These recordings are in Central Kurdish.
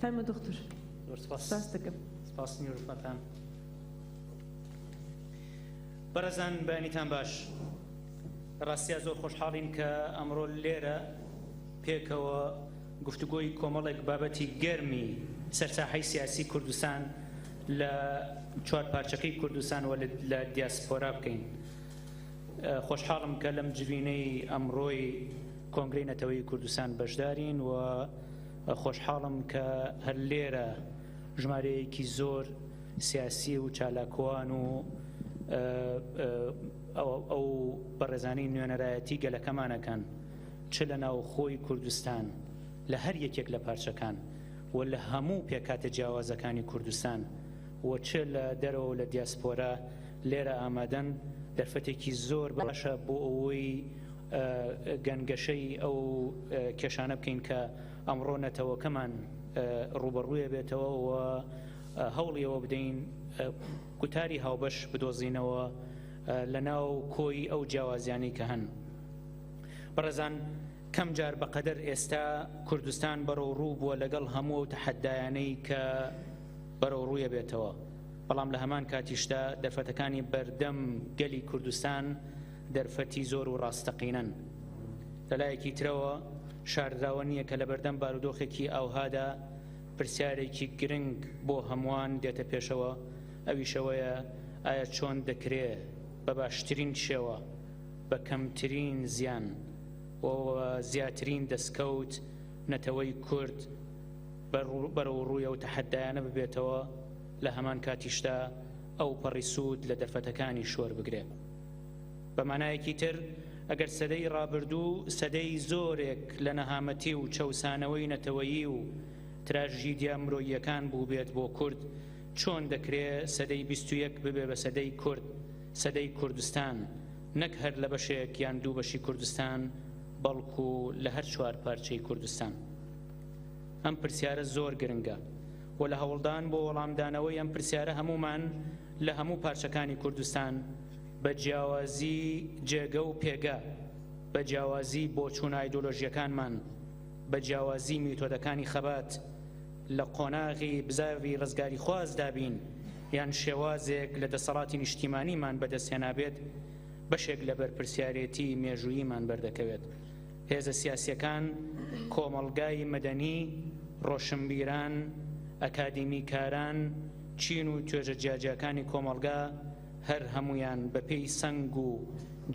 فەرموو دوختور سپاس دەکەم سپاس نیورفەتان بەرەزان بەنیتان باش ڕاستیا زۆر خۆشحاڵین کە ئەمڕۆ لێرە پێکەوە گفتوگۆی کۆمەڵێک بابەتی گەرمی سەرساحی سیاسی کوردستان لە چوار پارچەکەی کوردستان و لە دیاسپۆرا بکەین خۆشحاڵم کە لەم جبینەی ئەمڕۆی کۆنگری نەتەوەی کوردستان بەشدارین و خۆشحاڵم کە هەر لێرە ژمارەیەکی زۆر سیاسی و چالاکوان و ئەو بەڕێزانی نوێنەرایەتی گەلەکەمانەکەن چ لە ناوخۆی کوردستان لە هەر یەکێک لە پارچەکان و لە هەموو پێکاتە جیاوازەکانی کوردستان و چ لە دەرەوە لە دیاسپۆرە لێرە ئامادەن دەرفەتێکی زۆر باشە بۆ ئەوەی گەنگەشەی ئەو کێشانە بکەین کە ئەمڕۆ نەتەوەکەمان ڕوبەڕوویە بێتەوە و هەوڵیەوە بدەین گوتاری هاوبەش بدۆزینەوە لە ناو کۆی ئەو جیاوازیانی کە هەن بەڕێزان کەم جار بەقەدەر ئێستا کوردستان بەرەو ڕوو بووە لەگەڵ هەموو و تەحەدایانەی کە بەرەو ڕوویە بێتەوە بەڵام لە هەمان کاتیشدا دەرفەتەکانی بەردەم گەلی کوردستان دەرفەتی زۆر و ڕاستەقینەن. لە لایەکی ترەوە شاردراوە نییە کە لە بەردەم بارودۆخێکی ئاوهادا پرسیارێکی گرنگ بۆ هەمووان دێتە پێشەوە، ئەویش ئەوەیە ئایا چۆن دەکرێ بە باشترین شێوە، بە کەمترین زیان و بە زیاترین دەستکەوت نەتەوەی کورد بەرەوڕووی ئەو تەحەددایانە ببێتەوە، لە هەمان کاتیشدا ئەوپەڕی سوود لە دەرفەتەکانیش وەربگرێ؟ بە مانایەکی تر، ئەگەر سەدەی ڕابردوو سەدەی زۆرێک لە نەهامەتی و چەوسانەوەی نەتەوەیی و تراژیدیا مرۆییەکان بووبێت بۆ کورد، چۆن دەکرێ سەدەی بیست و یەک ببێ بە سەدەی کورد، سەدەی کوردستان، نەک هەر لە بەشێک یان دوو بەشی کوردستان، بەڵکو لە هەر چوار پارچەی کوردستان؟ ئەم پرسیارە زۆر گرنگە و لە هەوڵدان بۆ وەڵامدانەوەی ئەم پرسیارە هەموومان لە هەموو پارچەکانی کوردستان بە جیاوازی جێگە و پێگە، بە جیاوازی بۆچوونە ئایدۆلۆژییەکانمان، بە جیاوازی میتۆدەکانی خەبات، لە قۆناغی بزاڤی ڕزگاریخوازدا بین یان شێوازێک لە دەسەڵاتی نیشتیمانیمان بەدەستهێنابێت، بەشێک لە بەرپرسیارێتی مێژووییمان بەردەکەوێت. هێزە سیاسیەکان، کۆمەڵگای مەدەنی، ڕۆشنبیران، ئەکادیمیکاران، چین و توێژە جیاجیاکانی کۆمەڵگا هەر هەموویان بە پێی سەنگ و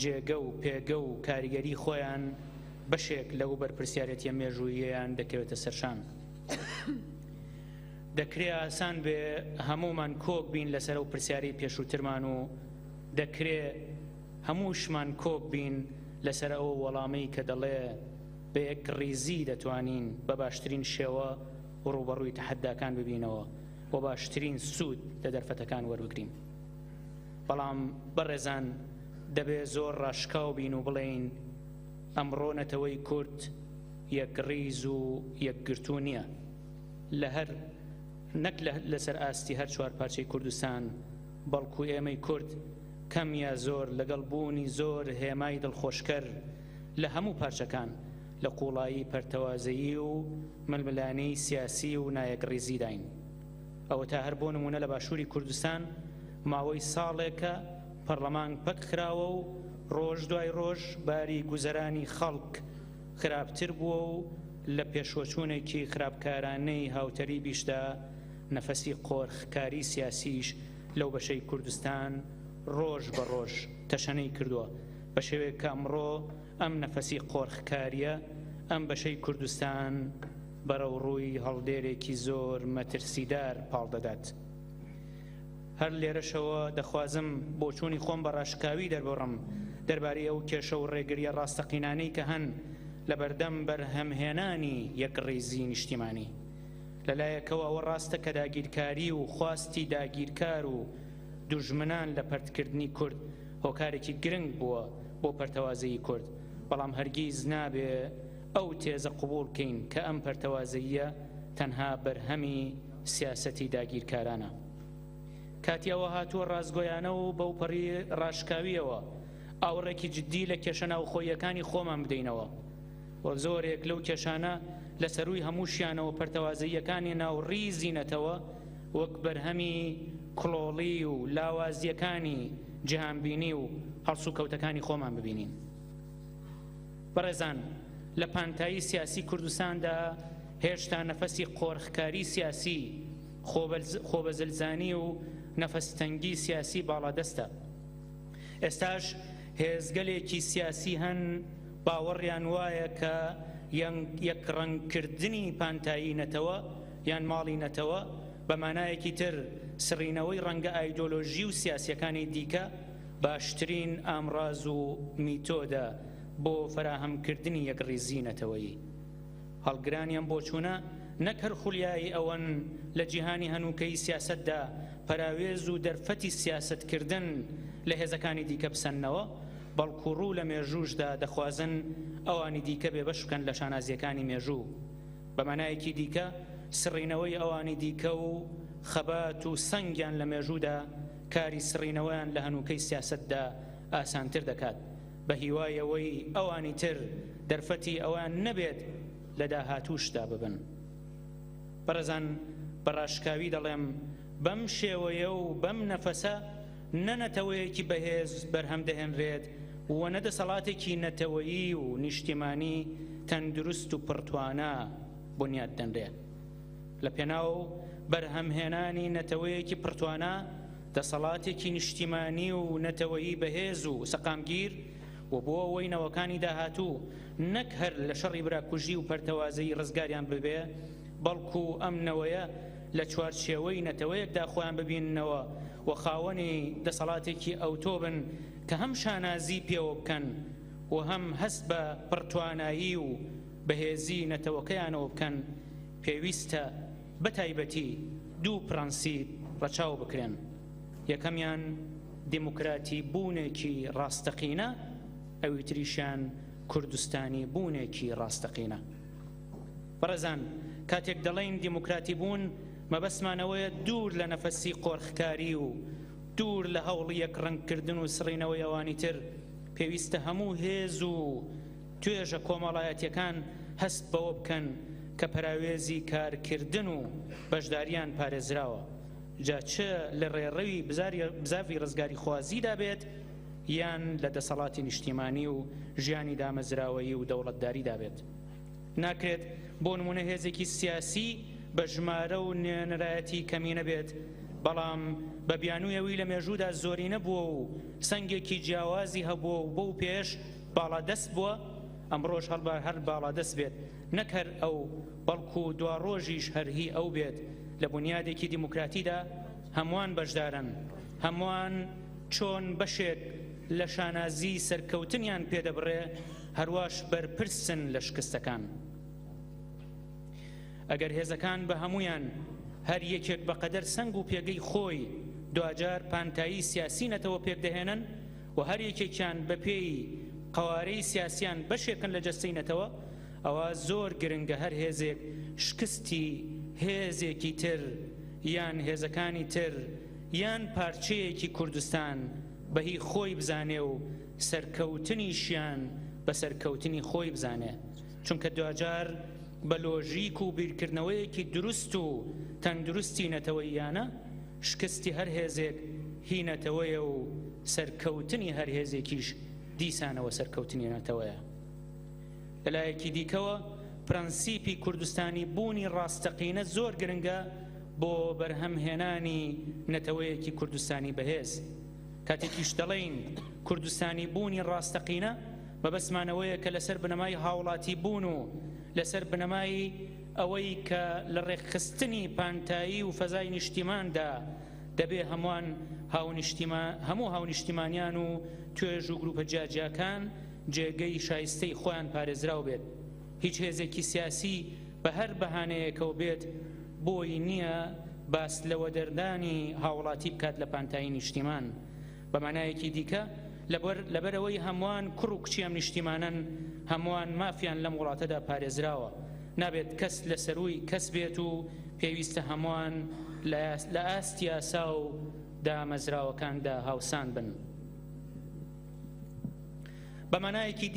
جێگە و پێگە و کاریگەری خۆیان بەشێک لەو بەرپرسیارێتیە مێژووییەیان دەکەوێتە سەرشان. دەکرێ ئاسان بێ هەموومان کۆک بین لەسەر ئەو پرسیارەی پێشووترمان و دەکرێ، هەمووشمان کۆک بین لەسەر ئەو وەڵامەی کە دەڵێ بە یەکڕیزی دەتوانین بە باشترین شێوە ڕووبەڕووی تەحەداکان ببینەوە و باشترین سوود لە دەرفەتەکان وەربگرین. بەڵام بەڕێزان دەبێ زۆر ڕاشکاو بین و بڵێین ئەمڕۆ نەتەوەی کورد یەکڕیز و یەکگرتوو نییە لە هەر نەک لەسەر ئاستی هەر چوار پارچەی کوردستان، بەڵکو ئێمەی کورد کەم یا زۆر لەگەڵ بوونی زۆر هێمای دڵخۆشکەر لە هەموو پارچەکان لە قوڵایی پەرتەوازەیی و ململانێی سیاسی و نایەکڕیزیداین. ئەوەتا هەر بۆ نموونە لە باشووری کوردستان ماوەی ساڵێکە پەڕڵەمان پەک خراوە و ڕۆژ دوای ڕۆژ باری گوزەرانی خەڵک خراپتر بووە و لە پێشوەچوونێکی خراپکارانەی هاوتەریبیشدا نەفەسی قۆرخکاری سیاسیش لەو بەشەی کوردستان ڕۆژ بە ڕۆژ تەشەنەی کردووە، بە شێوەیەک کە ئەمڕۆ ئەم نەفەسی قۆرخکارییە ئەم بەشەی کوردستان بەرەو ڕووی هەڵدێرێکی زۆر مەترسیدار پاڵ دەدات. هەر لێرەشەوە دەخوازم بۆچوونی خۆم بە ڕاشکاوی دەرببڕم دەربارەی ئەو کێشە و ڕێگرییە ڕاستەقینانەی کە هەن لە بەردەم بەرهەمهێنانی یەکڕیزی نیشتیمانی. لەلایەکەوە ئەوە ڕاستە کە داگیرکاری و خواستی داگیرکار و دوژمنان لە پەرتکردنی کورد هۆکارێکی گرنگ بووە بۆ پەرتەوازەیی کورد، بەڵام هەرگیز نابێ ئەو تێزە قبوڵ کەین کە ئەم پەرتەوازەییە تەنها بەرهەمی سیاسەتی داگیرکارانە. کاتی ئەوە هاتووە ڕاستگۆیانە و بەوپەڕی ڕاشکاوییەوە ئاوڕێکی جددی لە کێشە ناوخۆییەکانی خۆمان بدەینەوە. و زۆرێک لەو کێشانە لە سەرووی هەمووشیانەوە پەرتەوازەییەکانی ناو ڕیزی نەتەوە وەک بەرهەمی کڵۆڵی و لاوازییەکانی جیهانبینی و هەڵسوکەوتەکانی خۆمان ببینین. بەڕێزان لە پانتایی سیاسی کوردستاندا هێشتا نەفەسی قۆرخکاری سیاسی خۆبەزلزانی و نەفەستەنگی سیاسی باڵادەستە. ئێستاش هێزگەلێکی سیاسی هەن باوەڕیان وایە کە یەکڕەنگکردنی پانتایی نەتەوە یان ماڵی نەتەوە، بە مانایەکی تر سڕینەوەی ڕەنگە ئایدۆلۆژی و سیاسییەکانی دیکە، باشترین ئامڕاز و میتۆدە بۆ فەراهەمکردنی یەکڕیزیی نەتەوەیی. هەڵگرانی ئەم بۆچوونە نەک هەر خولیایی ئەوەن لە جیهانی هەنووکەی سیاسەتدا پەراوێز و دەرفەتی سیاسەتکردن لە هێزەکانی دیکە بسەننەوە، بەڵکو ڕوو لە مێژووشدا دەخوازن ئەوانی دیکە بێبەش بکەن لە شانازییەکانی مێژوو. بە مانایەکی دیکە سڕینەوەی ئەوانی دیکە و خەبات و سەنگیان لە مێژوودا کاری سڕینەوەیان لە هەنووکەی سیاسەتدا ئاسانتر دەکات بە هیوای ئەوەی ئەوانی تر دەرفەتی ئەوەیان نەبێت لە داهاتووشدا ببن بەڕێزان بە ڕاشکاوی دەڵێم بەم شێوەیە و بەم نەفەسە نە نەتەوەیەکی بەهێز بەرهەم دەهێنرێت و نە دەسەڵاتێکی نەتەوەیی و نیشتیمانی تەندروست و پڕتوانا بونیاد دەنرێت. لە پێناو بەرهەمهێنانی نەتەوەیەکی پڕتوانا، دەسەڵاتێکی نیشتیمانی و نەتەوەیی بەهێز و سەقامگیر و بۆ ئەوەی نەوەکانی داهاتوو نەک هەر لە شەڕی براکوژی و پەرتەوازەیی ڕزگاریان ببێ، بەڵکو ئەم نەوەیە لە چوارچێوەی نەتەوەیەکدا خۆیان ببیننەوە، و خاوەنی دەسەڵاتێکی ئەوتۆ بن کە هەم شانازی پێوە بکەن و هەم هەست بە پڕتوانایی و بەهێزی نەتەوەکەیانەوە بکەن، پێویستە بە تایبەتی دوو پڕەنسیپ ڕەچاو بکرێن، یەکەمیان دیموکراتی بوونێکی ڕاستەقینە، ئەویتریشیان کوردستانی بوونێکی ڕاستەقینە. بەڕێزان کاتێک دەڵێین دیموکراتی بوون مەبەستمان ئەوەیە دوور لە نەفەسی قۆرخکاری و دوور لە هەوڵی یەک ڕەنگ کردن و سڕینەوەی ئەوانی تر پێویستە هەموو هێز و توێژە کۆمەڵایەتیەکان هەست بەوە بکەن کە پەراوێزی کارکردن و بەشداریان پارێزراوە جا چ لە ڕێڕەوی بزاڤی ڕزگاری خوازیدا بێت یان لە دەسەڵاتی نیشتیمانی و ژیانی دامەزراوەیی و دەوڵەتداریدا بێت. ناکرێت بۆ نمونە هێزێکی سیاسی بە ژمارە و نوێنەرایەتی کەمینە بێت بەڵام بە بیانویەوی لە مێژوودا زۆرینە بووە و سنگێکی جیاوازی هەبووە و بەو پێش باڵادەست بووە ئەمڕۆش هەڵبار هەر باڵادەست بێت نەک هەر ئەو بەڵکو دوا ڕۆژیش هەر هی ئەو بێت لە بنیادێکی دیموکراتیدا هەمووان بەشدارن هەمووان چۆن بەشێک لە شانازی سەرکەوتنیان پێدەبڕێ هەرواش بەرپرسن لە شکستەکان. ئەگەر هێزەکان بە هەمویان هەر یەکێک بە قەدەر سنگ و پێگەی خۆی دواجار پانتایی سیاسی نەتەوە پێک دەهێنن و هەر یەکێکیان بە پێی قەوارەی سیاسیان بەشێکن لە جەستەی نەتەوە ئەوە زۆر گرنگە هەر هێزێک شکستی هێزێکی تر یان هێزەکانی تر یان پارچەیەکی کوردستان بەهی خۆی بزانێ و سەرکەوتنیشیان بە سەرکەوتنی خۆی بزانێ چونکە دواجار بە لۆژیک و بیرکردنەوەیەکی دروست و تەندروستی نەتەوەییانە شکستی هەر هێزێک هی نەتەوەیە و سەرکەوتنی هەر هێزێکیش دیسانەوە سەرکەوتنی نەتەوەیە لەلایەکی دیکەوە پرەنسیپی کوردستانی بوونی ڕاستەقینە زۆر گرنگە بۆ بەرهەمهێنانی نەتەوەیەکی کوردستانی بەهێز. کاتێکیش دەڵێین کوردستانی بوونی ڕاستەقینە مەبەستمان ئەوەیە کە لەسەر بنەمای هاوڵاتی بوون و لەسەر بنەمای ئەوەی کە لە ڕێکخستنی پانتایی و فەزای نیشتیماندا دەبێ هەموان هەموو هاونیشتیمانیان و توێژ و گروپە جیاجیاکان جێگەی شایستەی خۆیان پارێزراو بێت هیچ هێزێکی سیاسی بە هەر بەهانەیەکەوە بێت بۆی نییە باس لە وەدەردانی هاوڵاتی بکات لە پانتایی نیشتیمان. بە مانایەکی دیکە لەبەرئەوەی هەموان کوڕ و کچی ئەم نیشتیمانەن، هەموان مافیان لەم وڵاتەدا پارێزراوە. نابێت کەس لە سەرووی کەس بێت و پێویستە هەموان لە ئاست یاسا و دامەزراوەکاندا هاوسان بن. بە مانایەکی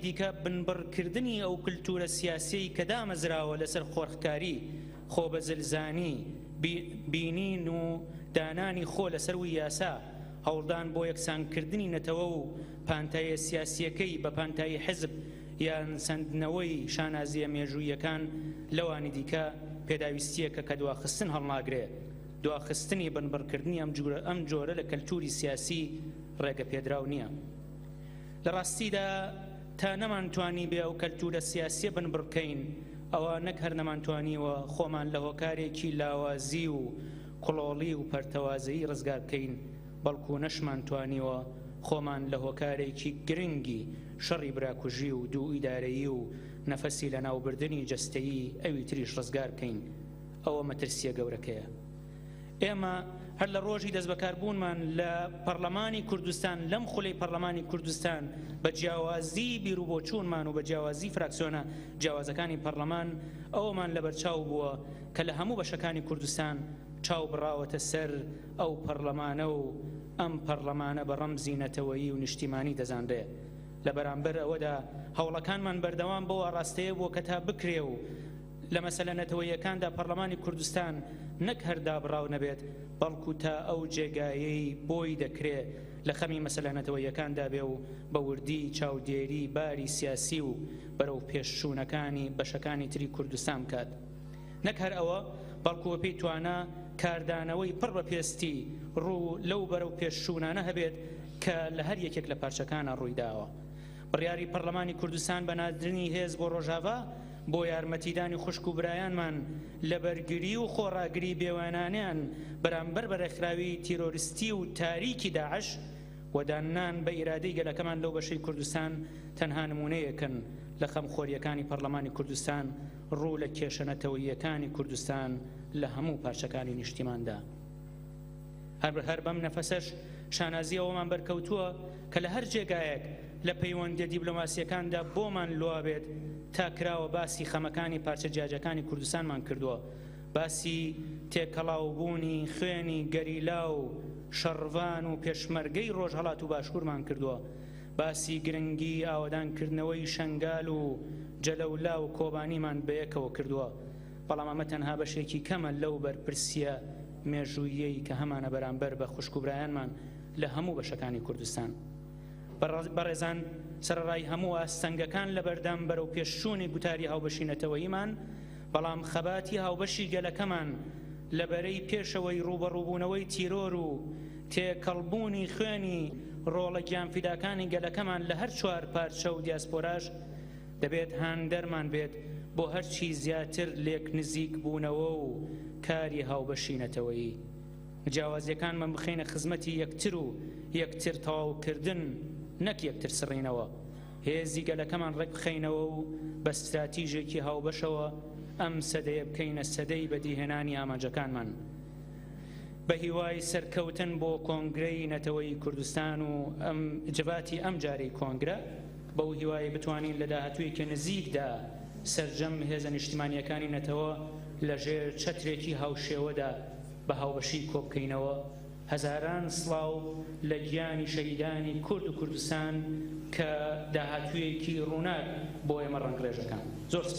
دیکە بنبڕکردنی ئەو کولتوورە سیاسیەی کە دامەزراوە لەسەر قۆرخکاری، خۆبەزلزانی، بینین و دانانی خۆ لەسەرووی یاسا، هەوڵدان بۆ یەکسانکردنی نەتەوە و پانتاییە سیاسییەکەی بە پانتایی حزب، یان سەندنەوەی شانازییە مێژووییەکان لەوانی دیکە، پێداویستییەکە کە دواخستن هەڵناگرێ. دواخستنی بنبڕکردنی ئەم جۆرە لە کەلتووری سیاسی ڕێگەپێدراو نییە. لە ڕاستیدا تا نەمانتوانیبێ ئەو کەلتوورە سیاسییە بنبڕ بکەین، ئەوا نەک هەر نەمانتوانیوە خۆمان لە هۆکارێکی لاوازی و کڵۆڵی و پەرتەوازەیی ڕزگار بکەین، بەڵکوو نەشمانتوانیوە خۆمان لە هۆکارێکی گرنگی شەڕی براکوژی و دوو ئیدارەیی و نەفەسی لەناوبردنی جەستەیی ئەوی تریش ڕزگار بکەین، ئەوە مەترسییە گەورەکەیە. ئێمە هەر لە ڕۆژی دەستبەکاربوونمان لە پەڕڵەمانی کوردستان، لەم خولەی پەڕڵەمانی کوردستان، بە جیاوازیی بیروبۆچوونمان و بە جیاوازیی فراکسیۆنە جیاوازەکانی پەڕڵەمان، ئەوەمان لەبەرچاو بووە کە لە هەموو بەشەکانی کوردستان چاو بڕاوەتە سەر ئەو پەڕڵەمانە و، ئەم پەڕلەمانە بە ڕەمزی نەتەوەیی و نیشتیمانی دەزانرێ. لە بەرامبەر ئەوەدا هەوڵەکانمان بەردەوام بەو ئاڕاستەیە بووە کە تا بکرێ و لە مەسەلە نەتەوەییەکاندا پەڕلەمانی کوردستان نەک هەر دابڕاو نەبێت بەڵکوو تا ئەو جێگایەی بۆی دەکرێ لە خەمی مەسەلە نەتەوەییەکاندا بێ و بە وردی چاودێری باری سیاسی و بەرەوپێشچوونەکانی بەشەکانی تری کوردستان بکات. نەک هەر ئەوە، بەڵکو بەپێی توانا کاردانەوەی پڕ بە پێستی ڕوو لەو بەرەو پێش چوونانە هەبێت کە لە هەر یەکێک لە پارچەکانا ڕووی داوە. بڕیاری پەڕلەمانی کوردستان بە ناردنی هێز بۆ ڕۆژاڤا بۆ یارمەتیدانی خوشک و برایانمان لە بەرگری و خۆڕاگری بێوێنانەیان بەرامبەر بە ڕێکخراوی تیرۆرستی و تاریکی داعش و داننان بە ئیرادەی گەلەکەمان لەو بەشەی کوردستان تەنها نموونەیەکن لە خەمخۆرییەکانی پەڕلەمانی کوردستان ڕوو لە کێشە نەتەوەییەکانی کوردستان لە هەموو پارچەکانی نیشتیماندا. هەر هەر بەم نەفەسەش شانازی ئەوەمان بەرکەوتووە کە لە هەر جێگایەک لە پەیوەندیە دیبلۆماسیەکاندا بۆمان لوا بێت تا کراوە باسی خەمەکانی پارچە جیاجەکانی کوردستانمان کردووە باسی تێکەڵاوبوونی خوێنی گەریلا و شەڕڤان و پێشمەرگەی ڕۆژهەڵات و باشوورمان کردووە باسی گرنگی ئاوەدان کردنەوەی شەنگال و جەلەولا و کۆبانیمان بەیەکەوە کردووە، بەڵام ئەمە تەنها بەشێکی کەمە لەو بەرپرسیە مێژووییەی کە هەمانە بەرامبەر بە خوشک و برایانمان لە هەموو بەشەکانی کوردستان. بەڕێزان سەرەڕای هەموو ئاستەنگەکان لەبەردەم بەرەوپێشچوونی گوتاری هاوبەشی نەتەوەییمان، بەڵام خەباتی هاوبەشی گەلەکەمان لە بەرەی پێشەوەی ڕووبەڕووبوونەوەی تیرۆر و تێکەڵبوونی خوێنی ڕۆڵە گیانفیداکانی گەلەکەمان لە هەر چوار پارچە و دیاسپۆراش دەبێت هاندەرمان بێت بۆ هەرچی زیاتر لێک نزیک بوونەوە و کاری هاوبەشی نەتەوەیی جیاوازیەکانمان بخەینە خزمەتی یەکتر و یەکتر تەواوکردن نەک یەکتر سڕینەوە. هێزی گەلەکەمان ڕێکبخەینەوە و بە ستراتیژێکی هاوبەشەوە ئەم سەدەیە بکەینە سەدەی بەدیهێنانی ئامانجەکانمان. بەهیوای سەرکەوتن بۆ کۆنگرەی نەتەوەیی کوردستان و ئەم جڤاتی ئەم جارەی کۆنگرە، بەو هیوایەی بتوانین لە داهاتوویەکی نزیکدا سەرجەم هێزە نیشتیمانییەکانی نەتەوە لەژێر چەترێکی هاوشێوەدا بە هاوبەشی کۆبکەینەوە. هەزاران سڵاو لە گیانی شەهیدانی کورد و کوردستان کە داهاتوویەکی ڕووناک بۆ ئێمە ڕەنگڕێژ دەکەن. زۆر سپاس.